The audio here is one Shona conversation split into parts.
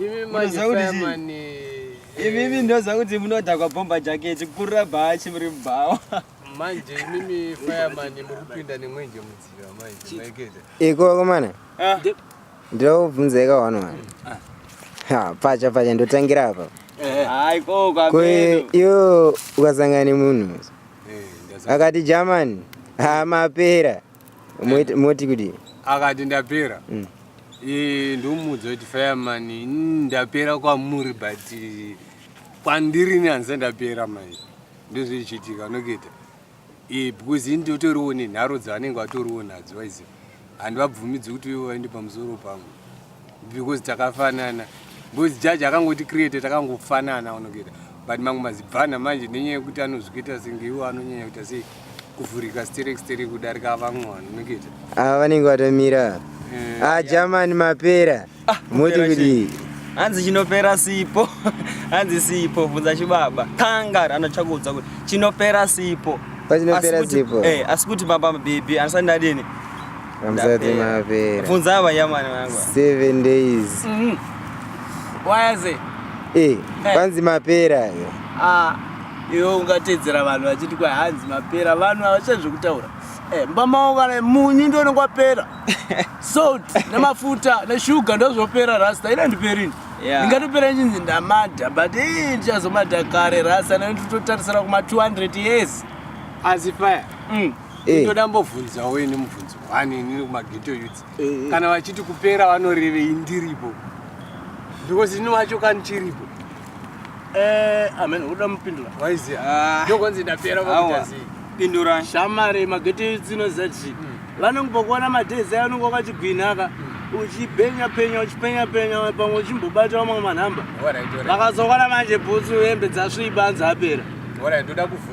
Imi manje fireman. Imi ndoza kuti munodhakwa bomba jacket kurira bhachi muri mubhawa. Manje mimi fireman muri kupinda nemwenje mudziva manje. Maikete. Iko komana. Ah. Ndobvunza eka one one. Ah. Ha, pacha pacha ndotangira apa. Eh. Hayi ko kwa. Ko yo ukasangana nemunhu. Eh, akati German. Ha mapera. moti kudii akati ndapera mm. e, ndomuudza kuti fireman mm, ndapera kwamuri but e, kwandiri ni hanzi ndapera manje ndozvichiitika noketa e, because ini totoriwo nenharo dzavanenge vatoriwo nadzo waiziva handivabvumidzi kuti ivo vaende pamusoro pangu because takafanana because jaji akangoti create takangofanana unogeta but mamwe mazibvana manje nenyaya yekuti anozvikuita senge iwo anonyanya kuita sei kuvhurika sterek sterek kudarika vamwe vanhu unogeta ava vanenge vatomira eh, ah jamani mapera ah, moti kudii hanzi chinopera sipo hanzi sipo bvunza chibaba kangar anotya kuudza kuti chinopera sipo asi kuti eh, baba mabhebhi andisati ndadini Hamsati mapera. Funza ava yamani wangu. 7 days. Mhm. Mm Why is it? Eh, eh. kwanzi mapera yo. Ah, yo ungatedzera vanhu vachiti kwa hanzi mapera vanhu havachazvi kutaura. Eh, mbama wangu kana munyu ndio unenge wapera. Salt nemafuta neshuga ndio zvopera rasta ina ndiperini. Yeah. Ndingatopera chinzi ndamada but eh ndichazomada kare rasta nekuti totarisira kuma 200 years. As if I. Mm. Eh. ndoda mbobvunzawo ini mubvunzo one inini kumageto youths Eh, eh. kana vachiti kupera vanorevei ndiripo because ini wacho kani chiripo Eh, amen uda mupindura waiziya Ah. ndokonzi ndapera Awa. vakuita sei Pindura. shamare mageto youths inoziva kuti vanenge pakuona madays ayo unenge wakachigwinhaka uchipenya penya uchipenya penya pamwe uchimbobata vamwe manhamba Alright, alright. vakazoona manje bhutsu hembe dzasviba anzi apera Alright, ndoda kubvunza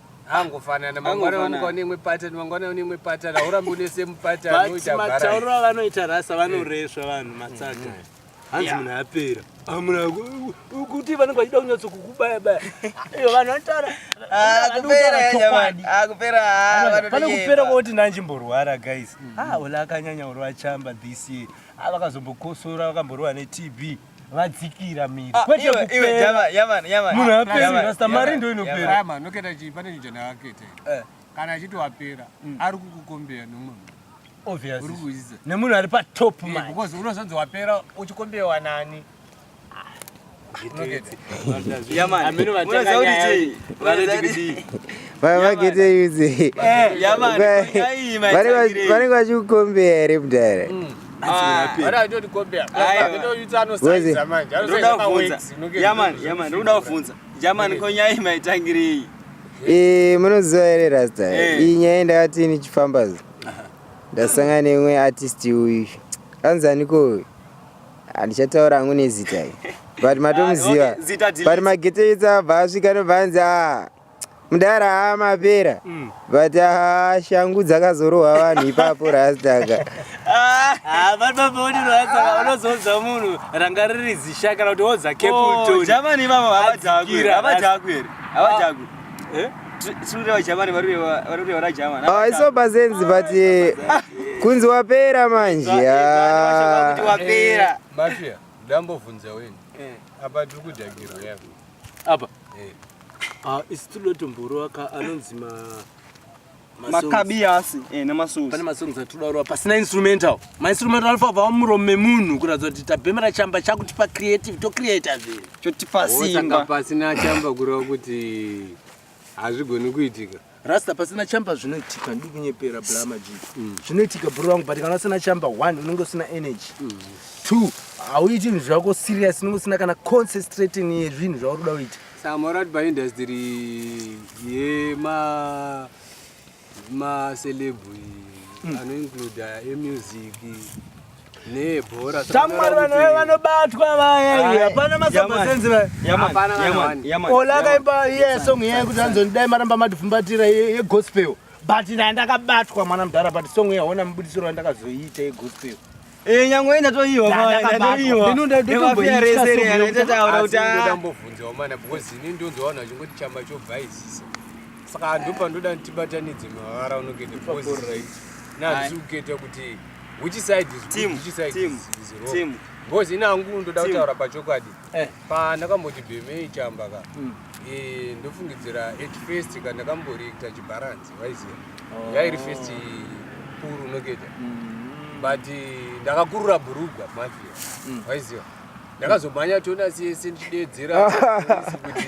angofanana mangwana vamuka une imwe pattern mangwana une imwe pattern haurambi une same pattern unoita bara matauro avanoita rasa vanoresva vanhu matsaga mm-hmm. hanzi munhu apera amuna ah, kuti vanenge vachida kunyatso kukubaya baya iyo vanhu vanotaura pane kupera kwoti nanjimborwara guys mm-hmm. ah ola akanyanya uri vachamba this year ah, vakazombokosora vakamborova netb vadzikira miri ah, kwete kuperamunhu aperarasta mari ndo inopera noketa chii pane chinhu chandakaketa eh. kana achiti wapera mm. ari kukukombeya nomwe obviously nemunhu ari patop eh, because unozonzi wapera uchikombewa nani vavagete uze vanenge vachikukombeya here mudhara munoziva here rasta eh. iyi nyaya ndakati nichifamba zo ndasangana neimwe artist uyu anzi aniko uyu handichataura hangu nezita i but matomuziva ah, but magete itsa abva asvika nobva anzi a ah, mudara haa mapera mm. but haa shangu dzakazorohwa vanhu ipapo rastaka ah, ah, unozoudza munhu ranga riri zisha kana kuti wodza kepultonjamani oh, ivavo havadhaku here havadhaku here havadhaku ah. eh? isobasenzi but eh, kunzi wapera manje eh, ndambovhunza weni apa tiri kudhagiro yako apa Eh. Ah, isi tinoda kuti mboro aka anonzi ma makabiyasi eh, nemasongs pane masongs atinoda kurova pasina instrumental mainstrumental anofa kubva muromo memunhu kuratidza kuti tabhemera chamba chakutipa creative tocreata zvinhu chotipa simba pasina chamba kureva kuti hazvigoni kuitika rasta pasina chamba zvinoitika ndiri kunyepera blama ji mm. zvinoitika bhuru vangu but kana usina chamba one unenge usina energy mm. two hauiti zvinhu zvako serious unenge usina kana concentrating yezvinhu zvauri kuda kuita samorad by industry yema macelebri mm. anoincluda emusic Shamwari vanhu vaya vanobatwa vaya hapana masabasenzi vayaolakaimba iye song iye kuti anzondidai maramba madifumbatira yegospel but naye ndakabatwa mwana mudhara but song iye haona mubudisiro wandakazoiita yegospel Eh nyangwe ina to iwa mwana ina to iwa. Ndinu ndo ndo ndo ya rese re ya tata aura kuti ah. Ndo dambo vunze wa mana because ini ndo nzo wana chingoti chamba cho bhaizisa. Saka ndopa ndoda ndibatanidze mavara unogete because right. Na zukete kuti Which side is team, which side team, is wrong? Team. Because ina hangu ndoda kutaura pachokwadi. Eh. Pa ndakamboti bheme ichamba ka. Mm. Eh ndofungidzira at first ka ndakamborekta chibalance waiziya. Oh. Yairi first puru noketa. Mm. But eh, ndakakurura burugwa mafia. Mm. Waiziya. Ndakazomhanya tona sese ndichidedzera kuti